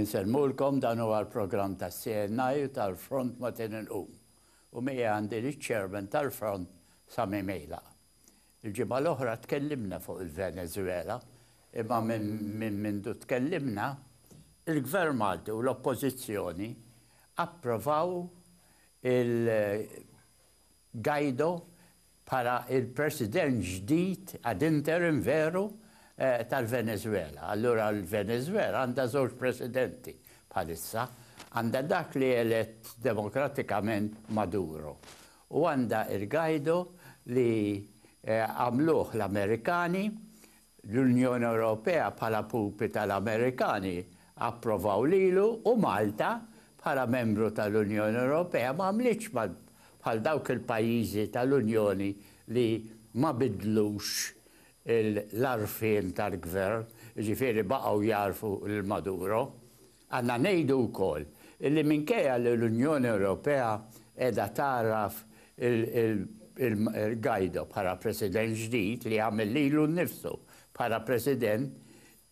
Insellmulkom dan huwa l-programm tas-CNI u tal-Front Matin Inqum u miegħi għandi liċ-Chairman tal-Front Sami Meilaq. Il-ġimgħa l-oħra tkellimna fuq il-Venezwela imma minn mindu tkellimna, il-Gvern Malti u l-Oppożizzjoni approvaw il, Guaido bħala l-President ġdid, ad interim veru, tal-Venezwela. Allura l-Venezwela għandha żewġ Presidenti bħalissa. Għandha dak li elett demokratikament Maduro u għandha il-Guaido li għamluh l-Amerikani L-Unjoni Ewropea bħala pupi tal-Amerikani approvaw lilu u Malta bħala membru tal-Unjoni Ewropea ma għamlitx bħal dawk il-pajjiżi tal-Unjoni li ma biddlux l-għarfien tal-gvern, jiġifieri baqgħu jagħrfu lil Maduro. Għandna ngħidu wkoll li minkejja li l-Unjoni Ewropea qiegħda tgħarraf lil Guaido bħala President ġdid li għamel lilu nnifsu bħala President,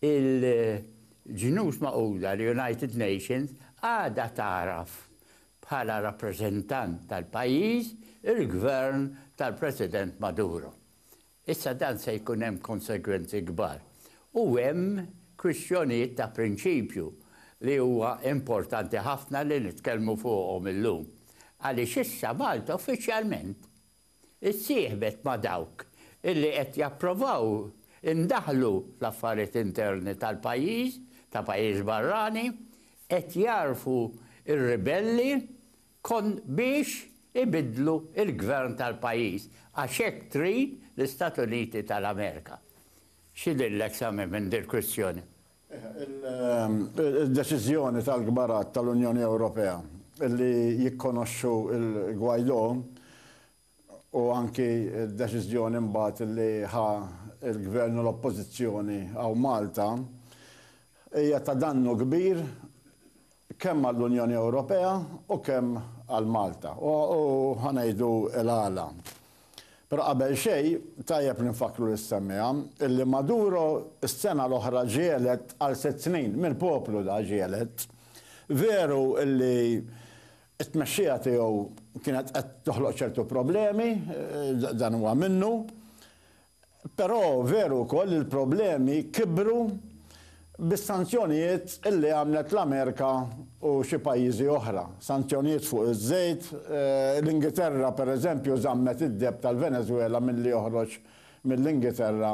il-Ġnus Magħquda, l-United Nations, għadha tagħraf bħala rappreżentant tal-pajjiż il-Gvern tal-President Maduro. Issa dan se jkun hemm konsegwenzi kbar u hemm kwistjonijiet ta' prinċipju li huwa importanti ħafna li nitkellmu fuqhom illum. Għaliex issa Malta uffiċjalment issieħbet ma' dawk illi qed japprovaw indaħlu fl-affarijiet interni tal-pajjiż, ta' pajjiż barrani, qed jagħrfu r-ribelli Kont biex ibiddlu l-gvern tal-pajjiż għax hekk trid l-Istat Uniti tal-Amerika. X'idhirlek Sami minn dil-kwistjoni? Id-deċiżjoni tal-kbarat tal-Unjoni Ewropea li jikkonoxxu l-Guaidó u anki d-deċiżjoni mbagħad li ħa l-Gvern u l-Oppożizzjoni hawn Malta hija ta' dannu kbir kemm għall-Unjoni Ewropea u kemm għal Malta. U ħa ngħidu l-għala. Però qabel xejn tajjeb li nfakkru lis-semmiegħa illi Maduro s-sena l-oħra ġie elett għal sitt snin, mill-poplu da ġie elett. Veru illi It-tmexxija tiegħu kienet qed toħloq ċertu problemi, dan huwa minnu, però veru wkoll li l-problemi kibru bis-sanzjonijiet li għamlet l-Amerika u xi pajjiżi oħra, sanzjonijiet fuq iż-żejt, l-Ingiterra pereżempju żammet id-deb tal-Venezwela milli joħroġ mill-Ingiterra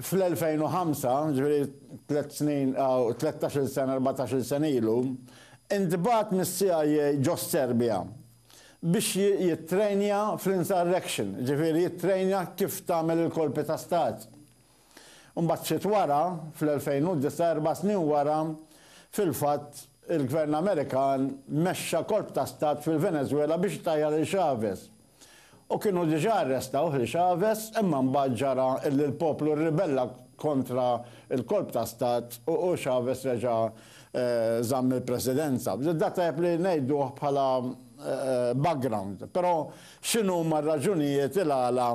Fl-2005, jiġifieri tliet snin, tlettax-il sena, erbatax-il sena ilu, intbagħat mis-CIA ġo s-Serbja biex jittrejnja fl-insurrection, jiġifieri jittrejnja kif tagħmel il-kolpi ta' stat. Imbagħad ftit wara, fl-2009, erba' snin wara, fil-fatt, il-Gvern Amerikan mexxa kolp ta' stat fil-Venezwela biex itajjar lil Chavez. U kienu diġà arrestawh, li Chavez, imma mbagħad ġara illi l-poplu rribella kontra l-kolp ta' stat u Chavez reġa' żamm il-presidenza. Dan tajjeb li ngħiduh bħala background. Però x'inhuma r-raġunijiet il-għala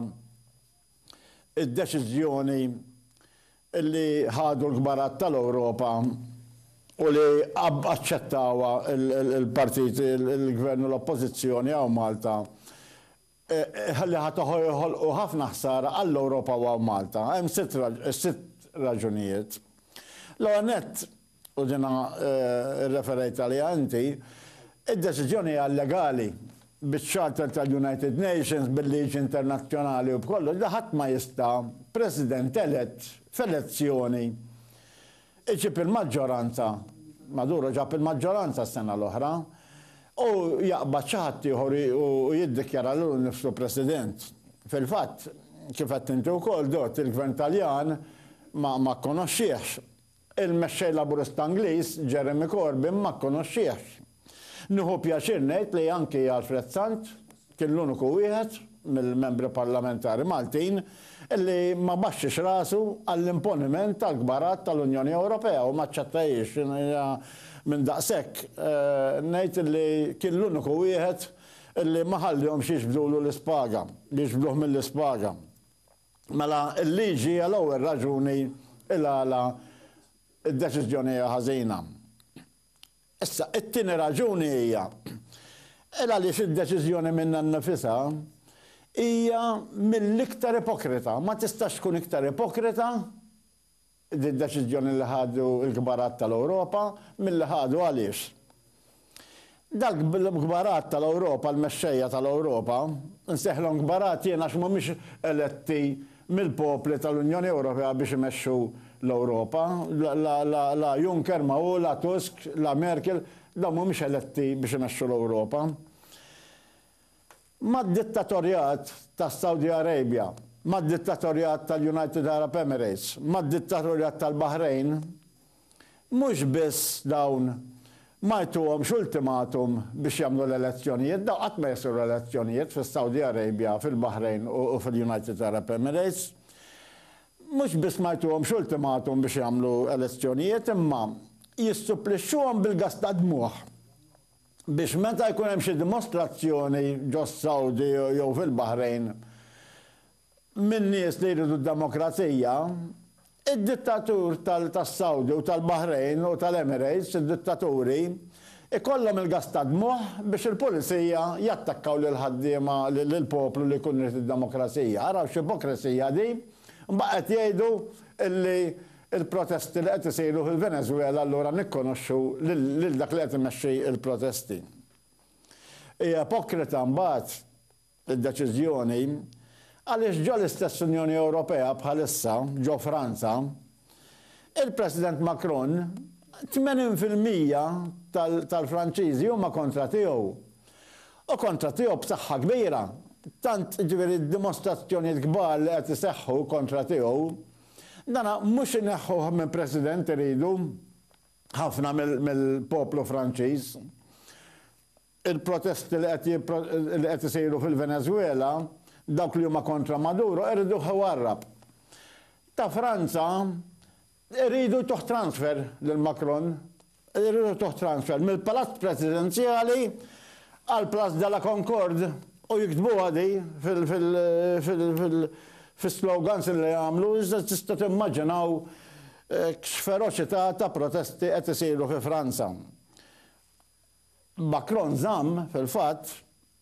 Id-deċiżjoni li ħadu l-kbarat tal-Ewropa u li aċċettawha l-partiti, il-Gvern u l-Oppożizzjoni hawn Malta, li ħa joħolqu ħafna ħsara għall-Ewropa u għal Malta. Hemm sitt raġunijiet. L-ewwel nett, u jiena rreferejt għaliha inti, id-deċiżjoni hija illegali, biċ-Charter tal-United Nations, bil-liġi internazzjonali u b'kollox, li ħadd ma jista', President elett f'elezzjoni, iġib il-maġġoranza, Maduro ġab il-maġġoranza s-sena l-oħra, u jaqbad xi ħadd ieħor u jiddikjara lilu nnifsu President. Fil-fatt, kif għedt inti wkoll, Dott, il-Gvern Taljan ma kkonoxxiehx Il-Mexxej Laburista Ingliż, Jeremy Corbyn ma kkonoxxiehx. Nieħu pjaċir ngħid li anki Alfred Sant kien l-uniku wieħed mill-Membri Parlamentari Maltin li ma baxxiex rasu għall-imponiment tal-kbarat tal-Unjoni Ewropea u ma aċċettahiex. Jiena minn daqshekk ngħid li kien l-uniku wieħed li ma ħallihomx jiġbdulu l-ispaga, jiġbduh mill-ispaga. Mela l-liġi hija l-ewwel raġuni il-għala d-deċiżjoni hija ħażina. Issa, it-tieni raġuni hija il għaliex id-deċiżjoni minnha nnifisha hija mill-iktar ipokrita. Ma tistax tkun iktar ipokrita Din deċiżjoni li ħadu l-kbarat tal-Ewropa, milli ħadu għaliex? Dawk l-kbarat tal-Ewropa, l-mexxejja tal-Ewropa, insejħilhom kbarat jien għax mhumiex eletti mill-popli tal-Unjoni Ewropea biex imexxu l-Ewropa. La Juncker ma hu, la Tusk, la Merkel, dawn mhumiex eletti biex imexxu l-Ewropa. mad-dittatorjat tas-Saudi Arabia, mad-dittatorjat tal-United Arab Emirates, mad-dittatorjat tal-Baħrejn, mhux biss dawn ma jtuhomx ultimatum biex jagħmlu l-elezzjonijiet, dawn qatt ma jsiru elezzjonijiet fis-Saudi Arabia, fil-Baħrejn u fil-United Arab Emirates, mhux biss ma jtuhomx ultimatum biex jagħmlu elezzjonijiet imma jissupplixxuhom bil-gass tad-dmugħ. biex meta jkun hemm xi dimostrazzjoni ġos-Sawdi jew fil-Baħrejn minn nies li jridu d-demokrazija, id-dittatur tas-Sawdi u tal-Baħrejn u tal-Emirates, id-dittaturi, ikollhom il-gass tad-dmugħ biex il-pulizija jattakkaw lill-ħaddiema, lill-poplu li jkun irid id-demokrazija. Araw x'ipokresija din! Imbagħad qed jgħidu li Il-protesti li qed isiru fil-Venezwela allura nikkonoxxu lil dak li qed imexxi l-protesti. Hi ipokrita mbagħad id-deċiżjoni għaliex ġo l-istess Unjoni Ewropea bħalissa, ġo Franza, il-President Macron 80 fil-mija tal-Franċiżi huma kontra tiegħu. U kontra tiegħu b'saħħa kbira. Tant, jiġifieri d-dimostrazzjonijiet kbar li qed iseħħu kontra tiegħu Dan mhux ineħħuh minn President iridu ħafna mill-poplu Franċiż. Il-protesti li qed isiru fil-Venezwela, dawk li huma kontra Maduro iriduh iwarrab. Ta' Franza iridu jtuh transfer lil Macron. Irridu transfer mill-Palazz Presidenzjali għal Place de la Concorde u jiktbuha di fil-slogans li jagħmlu iżda tista' timmaġinaw x'feroċità ta' protesti qed isiru fi Franza. Macron żamm, fil-fatt,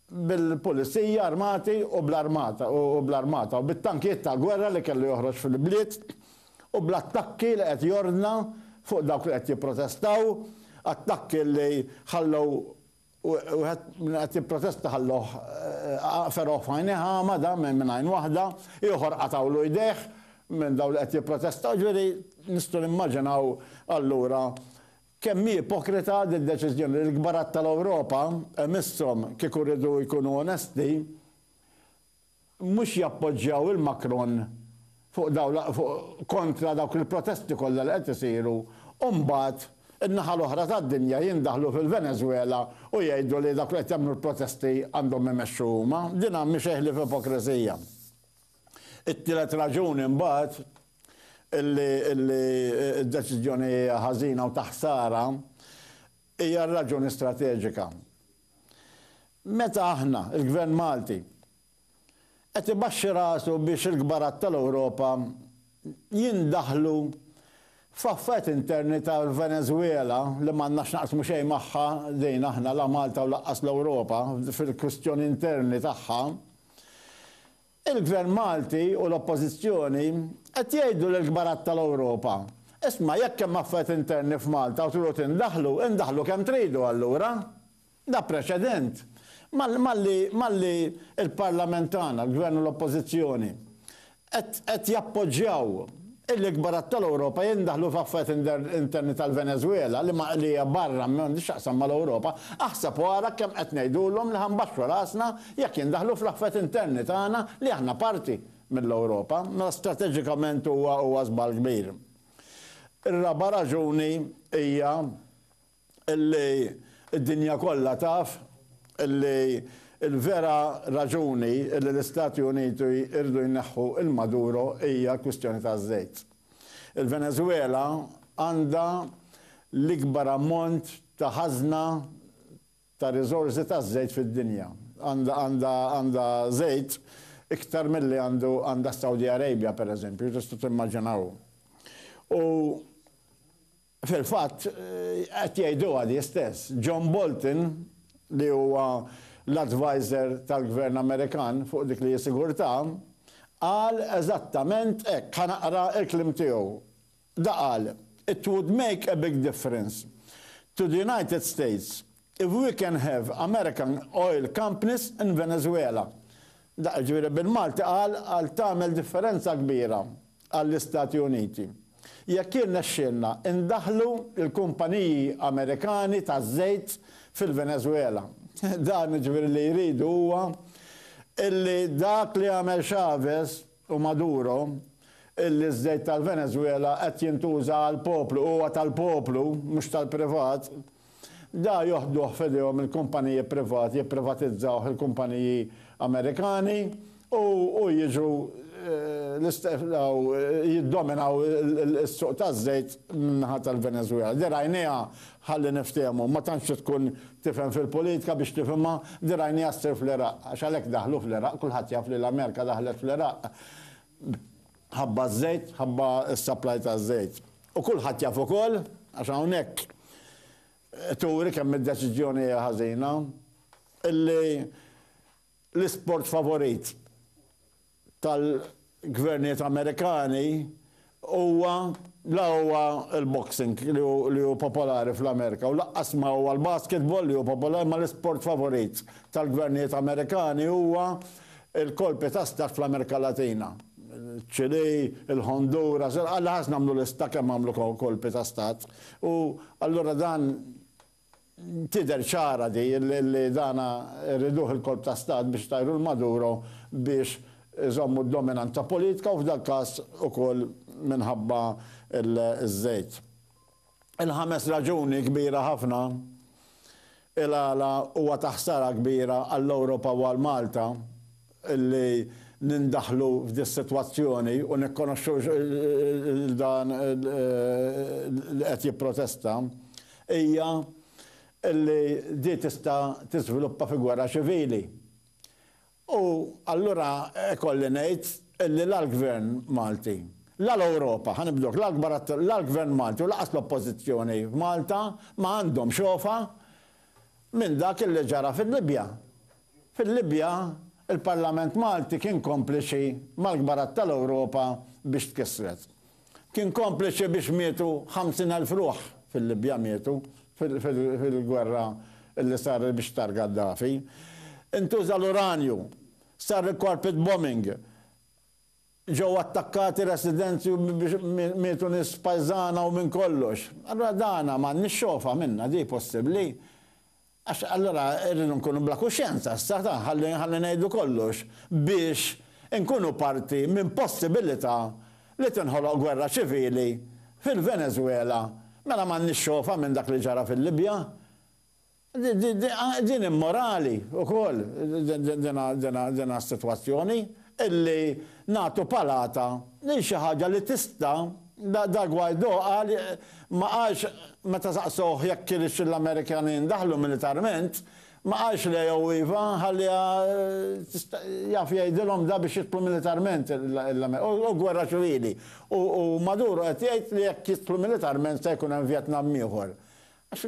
bil-pulizija armati u bl-armata u bl-armata u bit-tankijiet ta' gwerra li kellu joħroġ fil-bliet u bl-attakki li qed jordna fuq dawk li qed jipprotestaw, attakki li ħallew wieħed li qed jipprotesta ħallewh fergħuh f'għajnejh agħma dan minn għajn waħda, ieħor qatgħulu jdejh minn dawn li qed jipprotestaw, ġifieri nistgħu nimmaġinaw allura Kemm hi ipokrita din deċiżjoni li l-kbarat tal-Ewropa, imisshom kieku riedu jkunu onesti, mhux jappoġġjaw il Macron fuq dawn l fuq kontra dawk il-protesti kollha li qed isiru u mbagħad in-naħa l-oħra tad-dinja jindaħlu fil-Venezwela u jgħidu li dawk li qed jagħmlu l-protesti għandhom imexxu huma. Din mhi xejn ħlief ipokrisija. It-tielet raġuni mbagħad, li d-deċiżjoni hija ħażina u ta' ħsara hija r-raġuni strateġika. Meta aħna, il-Gvern Malti, qed ibaxxi rasu biex il-kbarat tal-Ewropa jindaħlu f'affarijiet interni tal-Venezwela li m'għandna x'naqsmu xejn magħha din aħna la Malta u lanqas l-Ewropa fil-kwistjoni interni tagħha, Il-Gvern Malti u l-Oppożizzjoni qed jgħidu lill-kbarat tal-Ewropa, Isma' jekk hemm affarijiet interni f'Malta u tridu tindaħlu, indaħlu kemm tridu allura. Da preċedent. Malli malli l-Parlament tagħna, l-Gvern u l-Oppożizzjoni qed qed jappoġġjaw L-ikbar għadd tal-Ewropa jindaħlu f'affarijiet interni tal-Venezwela li ma qlija barra m'għandhiex x'taqsam mal-Ewropa. Aħseb u ara kemm qed ngħidulhom li ħa nbaxxu rasna jekk jindaħlu fl-affarijiet interni tagħna li aħna parti mill-Ewropa. Mela strateġikament huwa huwa żball kbir. Ir-raba' raġuni hija Illi d-dinja kollha taf illi l-vera raġuni illi l-Istati Uniti jridu jneħħu lil Maduro hija l-kwistjoni taż-żejt. Il-Venezwela għandha l-ikbar ammont ta' ħażna ta' riżorsi taż-żejt fid-dinja. Għandha żejt iktar milli għandha s-Saudi Arabia, pereżempju, tistgħu timmaġinaw. U. Fil-fatt, qed jgħiduha di stess. John Bolton, li huwa l-adviser tal-Gvern Amerikan fuq dik li hi sigurtà, qal eżattament hekk. Ħa naqra l-kliem tiegħu. Da qal, It would make a big difference to the United States If we can have American oil companies in Venezuela. Dak jiġifieri bil-Malti qal għal tagħmel differenza kbira għall-Istati Uniti. Jekk jirnexxielna indaħħlu l-kumpaniji Amerikani taż-żejt fil-Venezuela. Dan jiġifieri li jridu huwa illi dak li għamel Chavez, u Maduro illi ż-żejt tal-Venezwela qed jintuża għall-poplu u huwa tal-poplu mhux tal-privat, da joħduh f'idejhom il-kumpaniji privati jipprivatizzawh il-kumpaniji Amerikani u u jiġu l-istedaw jiddominaw is-suq taż-żejt min-naħa tal-Venezwela. Di rajnieha Ħalli niftehmu, ma tantx trid tkun tifhem fil-politika biex tifhimha, din rajniha ssir fl-Iraq, għax għalhekk daħlu fl-Iraq, kulħadd jaf li l-Amerika daħlet fl-Iraq ħabba ż-żejt, ħabba s-supply taż-żejt. U kulħadd jaf ukoll, għax hawnhekk turi kemm id-deċiżjoni hija ħażina, illi l-isport favorit tal-gvernijiet Amerikani huwa la huwa l-boxing li hu popolari fl-Amerika u laqqas ma huwa l-basketball li hu popolari ma l-isport favorit tal-gvernijiet Amerikani huwa l-kolpi ta' stat fl-Amerika Latina, ċ-Ċilì, il-Honduras, il-Qatar, ħa nagħmlu lista kemm għamlu kolpi ta' stat u allura dan Tidher ċara di li dan rriduh il-kolp ta' stat biex itajru 'l Maduro biex iżommu d-dominanza politika u f'dal-każ ukoll minħabba ż-żejt. Il-ħames raġuni kbira ħafna il-għala huwa ta' ħsara kbira għall-Ewropa u għal Malta, li nindaħlu f'dis-sitwazzjoni u nirrikonoxxu lil dan li qed jipprotesta hija li di tista' tiżviluppa fi gwerra ċivili. U allura ikolli ngħid li la l-Gvern Malti, la l-Ewropa, ħa nibdluk, la l-kbar attur, la l-Gvern Malti u lanqas l-Oppożizzjoni f'Malta ma għandhom xofa minn dak li ġara fil-Libja. Fil-Libja, il-Parlament Malti kien kompliċi mal-kbarat tal-Ewropa biex tkissret. Kien kompliċi biex mietu 50,000 ruħ fil-Libja mietu fil-gwerra li saret biex tar Gaddafi. Intuża l-uranju, sar il-carpet bombing, ġew attakkati residenzi u mietu nies pajżana u minn kollox. Allura dana m'għandniex xogħofa minnha, di possibbli? Għax allura rridu nkunu bla kuxjenza issa, ta, ħalli, ħalli ngħidu kollox biex inkunu parti minn possibilità li tinħoloq gwerra ċivili fil-Venezwela, mela m'għandniex xogħfa minn dak li ġara fil-Libja? Di, di, di, din immorali wkoll dina, dina, dina s-sitwazzjoni illi nagħtu palata lil xi ħaġa li tista' Da Guaido qal ma qalx meta saqsowh jekk kienx l-Amerikani ndaħlu militarment, ma qalx le jew iva, ħalliha jaf jgħidilhom da biex jidħlu militarment u gwerra ċivili u Maduro qed jgħid li jekk jidħlu militarment se jkun hemm Vjetnam ieħor. Għax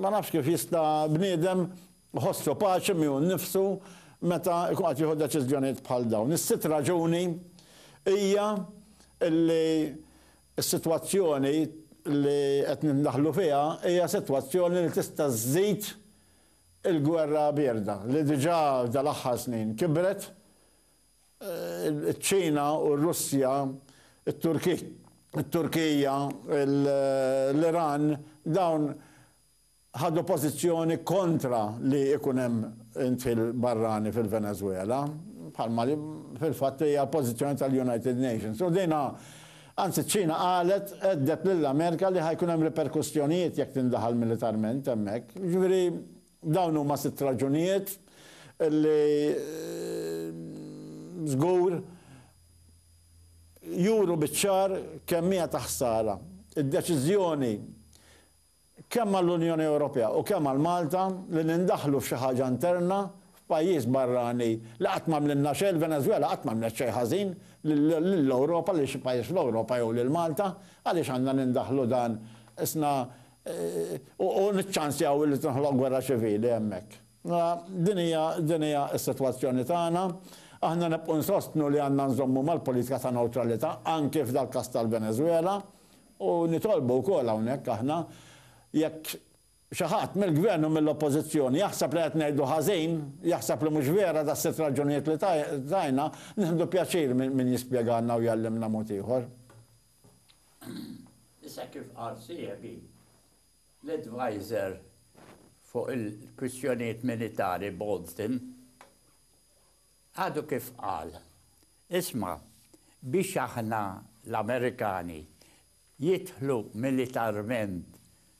ma nafx kif jista' bniedem Iħossu paċi miegħu nnifsu meta jkun qed jieħu deċiżjonijiet bħal dawn. Is-sitt raġuni hija li s-sitwazzjoni li qed nindaħlu fiha hija sitwazzjoni li tista' żżid il-gwerra bierda li diġà dal-aħħar snin kibret. Iċ-Ċina u r-Russja, it-Turkija, l-Iran, dawn ħadu pożizzjoni kontra li ikun hemm indħil barrani fil-Venezwela, bħalma fil-fatt hija l-pożizzjoni tal-United Nations. U din anzi ċ-Ċina qalet għedded lill-Amerika li ħa jkun hemm riperkussjonijiet jekk tindaħal militarment hemmhekk. Jiġifieri dawn huma sitt raġunijiet li żgur juru biċ-ċar kemm hija ta' ħsara d-deċiżjoni kemm għall-Unjoni Ewropea u kemm għal Malta, li nindaħlu f'xi ħaġa interna f'pajjiż barrani li qatt m'għamlilna xejn, il-Venezwela qatt m'għamlet xejn ħażin lill-Ewropa, lil xi pajjiż fl-Ewropa jew lil Malta, għaliex għandna nindaħlu dan isna u niċċansjaw li tinħloq gwerra ċivili hemmhekk? Din hija din hija s-sitwazzjoni tagħna. Aħna nibqgħu nsostnu li għandna nżommu mal-politika ta' newtralità anki f'dal-każ tal-Venezwela. U nitolbu wkoll hawnhekk aħna, jekk xi ħadd mill-Gvern u mill-Oppożizzjoni jaħseb li qed ngħidu ħażin, jaħseb li mhux vera das-sitt raġunijiet li tajna, nieħdu pjaċir min jispjegalna u jgħallimna mod ieħor. Issa kif qal sieħbi, l-Advisor fuq il-Kwistjonijiet Militari Bolton, Għadu kif qal, Isma', biex aħna l-Amerikani jidħlu militarment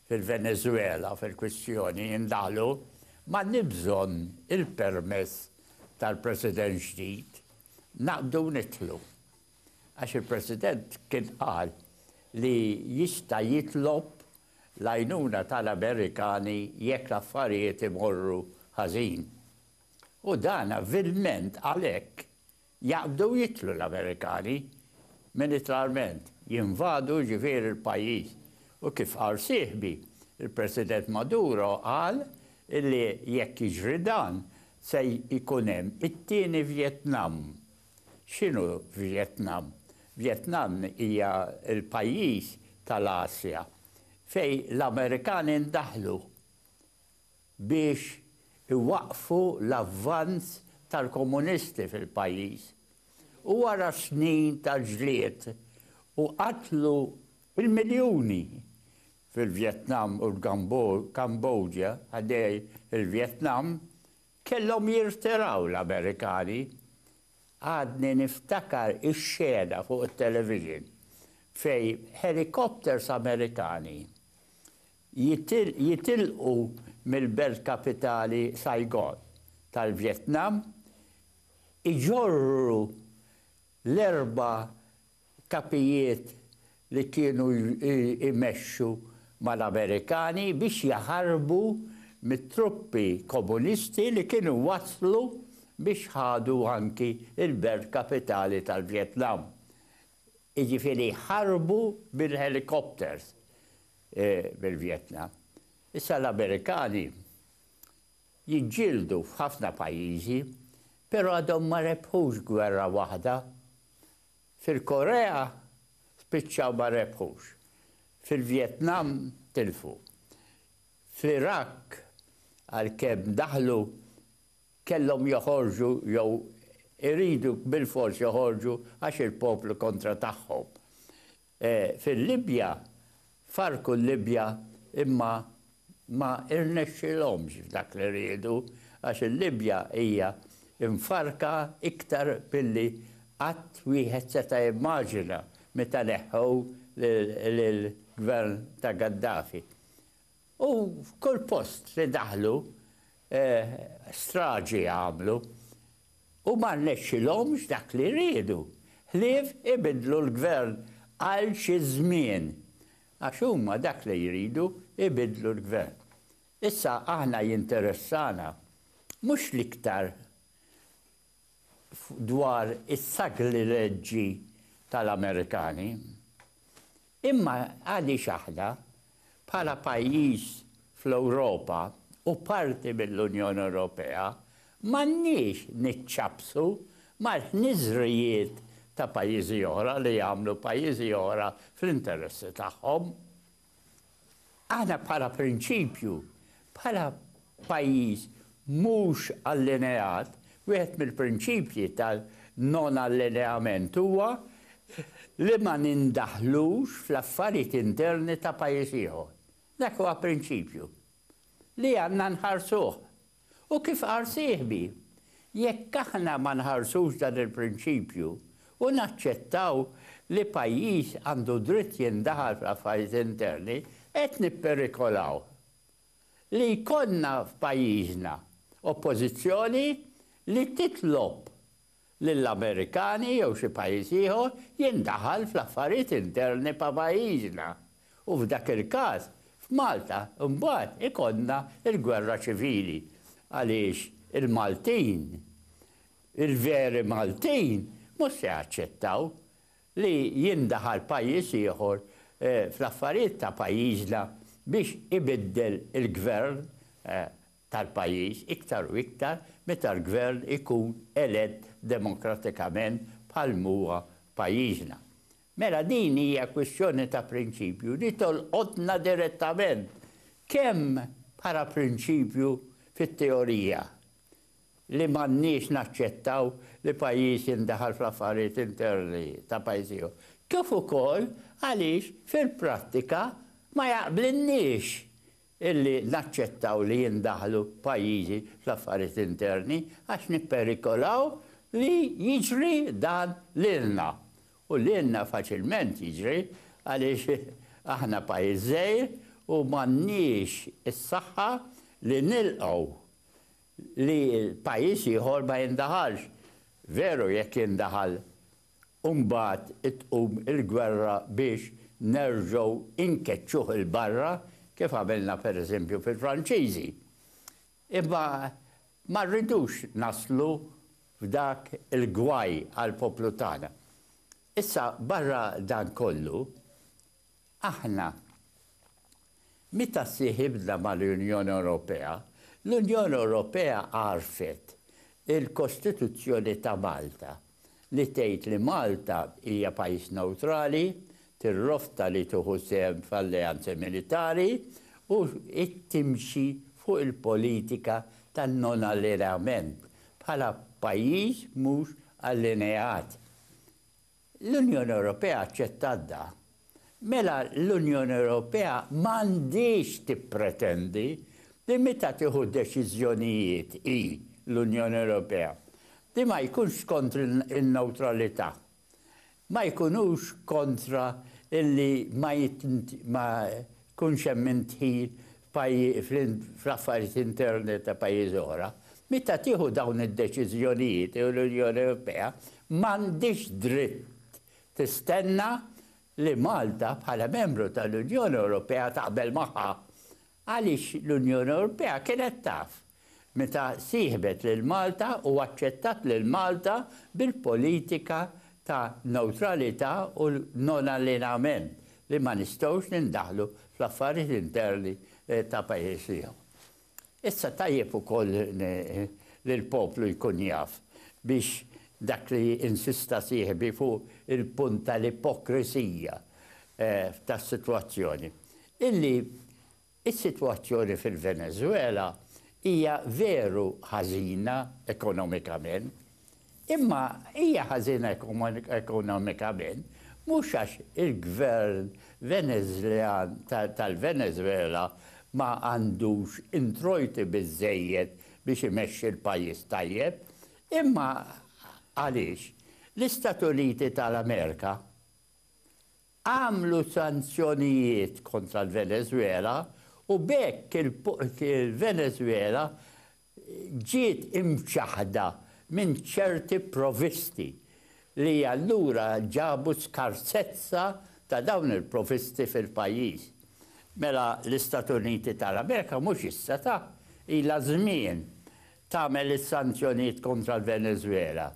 fil-Venezwela fil-kwistjoni indaħlu, m'għandniex bżonn il-permess tal-President ġdid, naqbdu nidħlu. Għax il-President kien qal li jista' jitlob l-għajnuna tal-Amerikani jekk l-affarijiet imorru ħażin. U dan vilment għalhekk jaqbdu jidħlu l-Amerikani, militarment, jinvadu jiġifieri l-pajjiż. U kif qal sieħbi, il-President Maduro qal illi jekk jiġri dan se jkun hemm it-tieni Vjetnam. X'inhu Vjetnam? Vjetnam hija l-pajjiż tal-Asja fejn l-Amerikani ndaħlu. biex iwaqqfu l-avvanz tal-komunisti fil-pajjiż u wara snin ta' ġlied u qatlu bil-miljuni fil-Vjetnam u l-Kambodja ħdej il-Vjetnam kellhom jirtiraw l-Amerikani. Għadni niftakar ix-xena fuq it-television fejn helicopters Amerikani jitilqu mill-belt kapitali Saigon tal-Vjetnam, iġorru l-erba' kapijiet li kienu jmexxu mal-Amerikani biex jaħarbu mit-truppi komunisti li kienu waslu biex ħadu anki l-belt kapitali tal-Vjetnam. Jiġifieri ħarbu bil-helicopters. bil-Vjetnam. Issa l-Amerikani jiġġieldu f'ħafna pajjiżi, però għadhom ma rebħux gwerra waħda. Fil-Korea spiċċaw ma rebħux. Fil-Vjetnam tilfu. Fl-Iraq għalkemm daħlu kellhom joħorġu jew iridu bilfors joħorġu għax il-poplu kontra tagħhom. fil-Libja, farrku l-Libja imma ma rnexxielhomx f'dak li riedu għax il-Libja hija mfarrka iktar milli qatt wieħed seta' jimmaġina meta neħħew lill-Gvern ta' Gaddafi. U f'kull post li daħlu, straġi għamlu. U ma rnexxilhomx dak li riedu, ħlief ibiddlu l-Gvern għal xi żmien. Għax huma dak li jridu, ibiddlu l-Gvern. Issa aħna jinteressana mhux l-iktar dwar is-saglileġġi tal-Amerikani. Imma għaliex aħna, bħala pajjiż fl-Ewropa u parti mill-Unjoni Ewropea, m'għandniex niċċappsu mal-ħniżrijiet ta' pajjiżi oħra li jagħmlu pajjiżi oħra fl-interessi tagħhom? Aħna bħala prinċipju, bħala pajjiż mhux allineat, wieħed mill-prinċipji tan-non allineament huwa li ma nindaħlux fl-affarijiet interni ta' pajjiż ieħor. Dak huwa prinċipju li għandna nħarsuh U kif qal sieħbi, jekk aħna ma nħarsux dan il-prinċipju u naċċettaw li pajjiż għandu dritt jindaħal fl-affarijiet interni, qed nipperikolaw li jkollna f'pajjiżna Oppożizzjoni li titlob lill-Amerikani jew xi pajjiż ieħor jindaħal fl-affarijiet interni pa' pajjiżna u f'dak il-każ f'Malta mbagħad ikollna l-gwerra ċivili għaliex il-Maltin, il-veri Maltin mhux se jaċċettaw li jindaħal pajjiż ieħor fl-affarijiet ta' pajjiżna biex ibiddel il-gvern. tal-pajjiż iktar u iktar meta l-gvern ikun elett demokratikament bħal m'huwa f'pajjiżna. Mela din hija kwistjoni ta' prinċipju li tolqotna direttament kemm bħala prinċipju fit-teorija li m'għandniex naċċettaw li pajjiż jindaħal fl-affarijiet interni ta' pajjiż ieħor, kif ukoll għaliex fil-prattika ma jaqblilniex illi naċċettaw li jindaħlu pajjiżi fl-affarijiet interni għax nipperikolaw li jiġri dan lilna. U lilna faċilment jiġri għaliex aħna pajjiż żgħir u m'għandniex is-saħħa li nilqgħu li pajjiż ieħor ma jindaħalx. Veru jekk jindaħal u mbagħad tqum il-gwerra biex nerġgħu nkeċċuh 'il barra kif għamilna per eżempju fil-Franċiżi. Imma ma rridux naslu f'dak il-gwaj għall-poplu tagħna. Issa barra dan kollu, Aħna, meta ssieħibna mal-Unjoni Ewropea, l-Unjoni Ewropea għarfet il-Kostituzzjoni ta' Malta li tgħid li Malta hija pajjiż newtrali, tirrofta li tieħu sehem f'alleanzi militari u timxi fuq il-politika ta' non-allineament bħala pajjiż mhux allineat. L-Unjoni Ewropea aċċettat dan, mela l-Unjoni Ewropea m'għandhiex tippretendi li meta tieħu deċiżjonijiet hi, l-Unjoni Ewropea, li ma jkunx kontra n-newtralità, ma jkunux kontra li ma Jkunx hemm min dħil fl-affarijiet interni ta' pajjiżi oħra. Meta tieħu dawn id-deċiżjonijiet l-Unjoni Ewropea m'għandhiex dritt tistenna li Malta bħala membru tal-Unjoni Ewropea taqbel magħha għaliex l-Unjoni Ewropea kienet taf meta sieħbet lil Malta u aċċettat lil Malta bil-politika ta' newtralità u non-allienament li ma nistgħux nindaħlu fl-affarijiet interni ta' pajjiż ieħor. Issa tajjeb ukoll li l-poplu jkun jaf biex dak li insista sieħbi fuq il-punt tal-ipokrisija tas-sitwazzjoni, illi Is-sitwazzjoni fil-Veneżwela hija veru ħażina ekonomikament, imma hija ħażina ekonomikament mhux għax il-Gvern Veneżljan tal-Veneżwela ma għandux introjti biżżejjed biex imexxi l-pajjiż tajjeb, imma għaliex l-Istat Uniti tal-Amerika għamlu sanzjonijiet kontra l-Venezwela u b'hekk il-Venezwela ġiet imċaħħda minn ċerti provvisti li allura ġabu skarsezza ta' dawn il-provvisti fil-pajjiż. Mela l-Istati Uniti tal-Amerika mhux issa ta' ilha żmien tagħmel is-sanzjonijiet kontra l-Venezwela,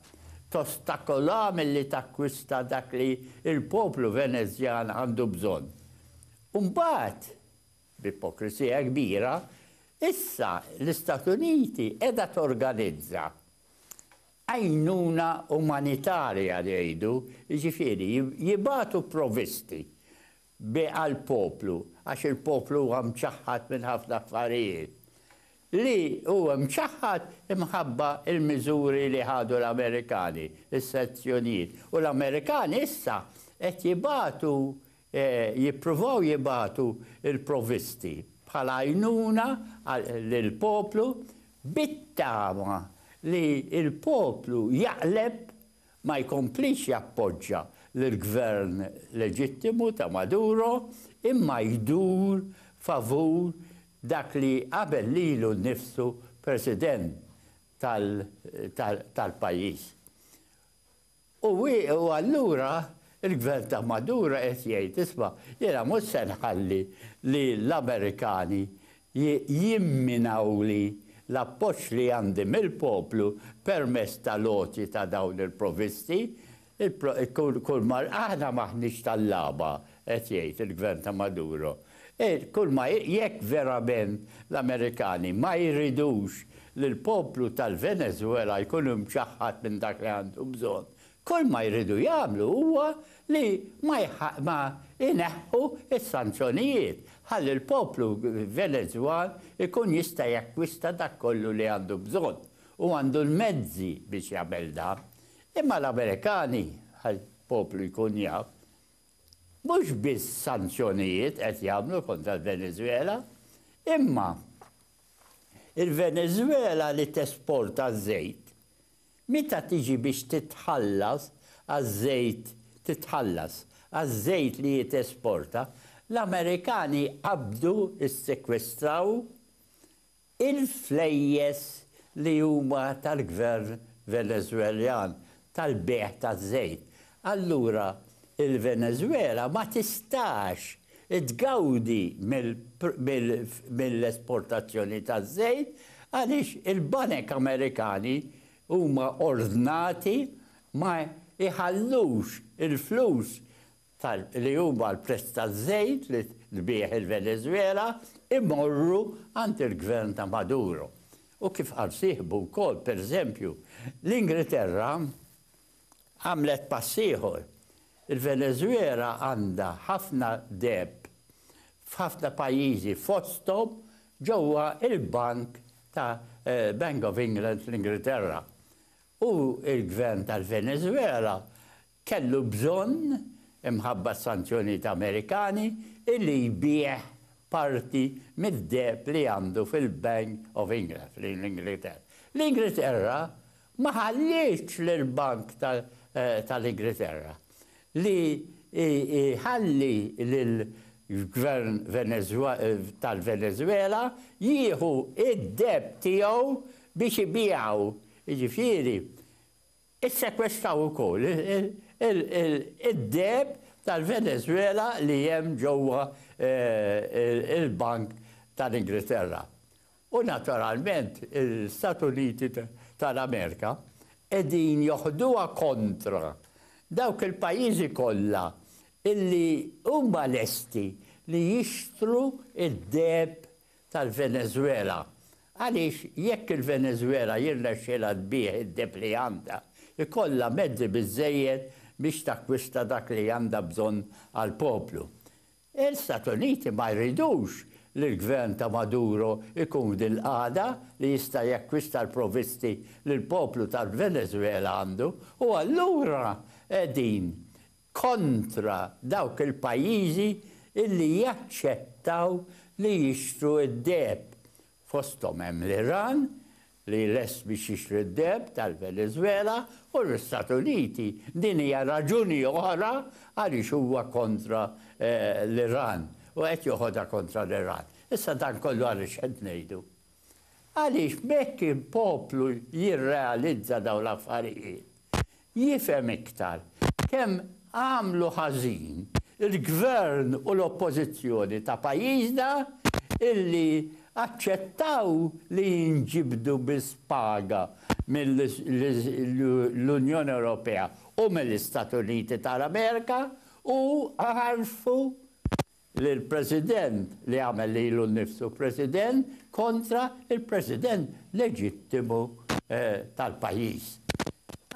tostakolaha milli takkwista dak li l-poplu Venezjan għandu bżonn, u mbagħad, b'ipokrisija kbira, issa l-Istat Uniti qiegħda torganizza għajnuna umanitarja li jgħidu, jiġifieri jibagħtu provvisti bi għall-poplu, għax il-poplu huwa mċaħħad minn ħafna affarijiet, li hu mċaħħad imħabba l-miżuri li ħadu l-Amerikani, is-sanzjonijiet, u l-Amerikani issa qed jibagħtu, jippruvaw jibagħtu l-provvisti bħala għajnuna lill-poplu bit-tama li l-poplu jaqleb ma jkomplix jappoġġa lill-Gvern leġittimu ta' Maduro imma jdur favur dak li qabel lilu nnifsu President tal-pajjiż. U allura l-Gvern ta' Maduro qed jgħid, isma', jiena mhux se nħalli li l-Amerikani jimminawli l-appoġġ li għandi mill-poplu permezz tal-għoti ta' dawn il-provvisti, kulma aħna m'aħniex tal-lagħba, qed jgħid il-Gvern ta' Maduro. Kulma jekk verament l-Amerikani ma jridux li l-poplu tal-Venezwela jkun imċaħħad minn dak li għandu bżonn, Kull ma jridu jagħmlu huwa li ma ma jneħħu s-sanzjonijiet ħalli l-poplu Venezwan ikun jista' jakkwista dak kollu li għandu bżonn u għandu l-mezzi biex jagħmel dan. Imma l-Amerikani, ħalli l-poplu jkun jaf, mhux biss sanzjonijiet qed jagħmlu kontra l-Venezwela, imma il-Venezwela li tesporta ż-żejt Meta tiġi biex titħallas għaż-żejt titħallas għaż-żejt li hi tesporta, l-Amerikani qabdu, issekwestraw, il-flejjes li huma tal-Gvern Veneżweljan tal-bejgħ taż-żejt. allura il-Venezuela ma tistax tgawdi mill-esportazzjoni taż-żejt għaliex il-banek Amerikani huma ordnati ma jħallux il-flus li huma l-prezz taż-żejt li tbigħ il-Venezuela jmorru għand il-gvern ta' Maduro. U kif qal sieħbu wkoll, pereżempju, l-Ingilterra Għamlet pass ieħor. Il-Veneżwela għandha ħafna deheb f'ħafna pajjiżi fosthom ġewwa l-bank ta' Bank of England fl-Ingilterra. U l-Gvern tal-Veneżwela kellu bżonn, imħabba s-sanzjonijiet Amerikani, illi jbigħ parti mid-deheb li għandu fil-Bank of England fl-Ingilterra. L-Ingilterra ma ħallietx lill-Bank tal-Ingriterra li jħalli lill-Gvern tal-Venezwela jieħu d-deheb tiegħu biex ibiegħu, jiġifieri ssekwestaw ukoll id-deheb tal-Venezwela li hemm ġewwa l-Bank tal-Ingriterra. U naturalment l-Istati Uniti tal-Amerika qegħdin joħduha kontra dawk il-pajjiżi kollha illi huma lesti li jixtru d-deheb tal-Venezwela għaliex jekk il-Venezwela jirnexxilha tbigħ id-deheb li għandha, ikollha mezzi biżżejjed biex takkwista dak li għandha bżonn għall-poplu. L-Istati Uniti ma jridux li l-gvern ta' Maduro jkun f'din il-qagħda li jista' jakkwista l-provvisti li l-poplu tal-Venezwela għandu u allura qegħdin kontra dawk il-pajjiżi li jaċċettaw li jixtru d-deheb fosthom hemm l-Iran li lest biex jixtri d-deheb tal-Venezuela u l-Istati Uniti. Din hija raġuni oħra għaliex huwa kontra l-Iran u qed joħodha kontra l-Iran. Issa dan kollu għaliex qed ngħidu? Għaliex b'hekk il-poplu jirrealizza dawn l-affarijiet. jifhem iktar kemm għamlu ħażin il-Gvern u l-Oppożizzjoni ta' pajjiżna illi aċċettaw li jinġibdu biss paga mill-Unjoni Ewropea u mill-Istati Uniti tal-Amerika u għarfu lill-President li għamel lilu nnifsu President kontra l-President leġittimu tal-pajjiż.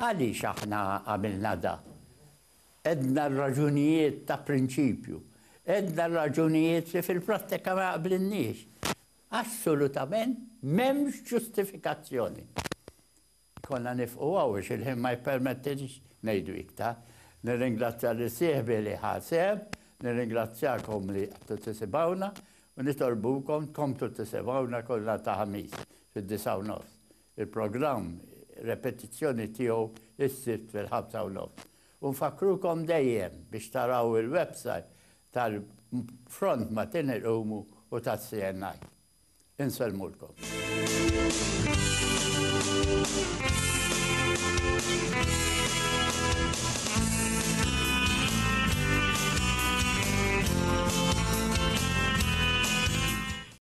Għaliex aħna għamilna dan? Għedna r-raġunijiet ta' prinċipju. Għedna r-raġunijiet li fil-prattika ma jaqblilniex. Assolutament m'hemmx ġustifikazzjoni. Konna nifqu hawn għax il-ħin ma jippermettilix ngħidu iktar. Nirringrazzja lil sieħbi li ħa sehem, nirringrazzjakom li qgħadtu tisimgħuna u nitolbukom tkomplu tisimgħuna kull nhar ta' Ħamis fid-disgħa u nofs. Il-programm repetizzjoni tiegħu s-Sibt fil-ħamsa u nofs. U nfakkrukom dejjem biex taraw il-website tal-Front ma' Tin il-Qumu u tas-CNI. Insellmulkom.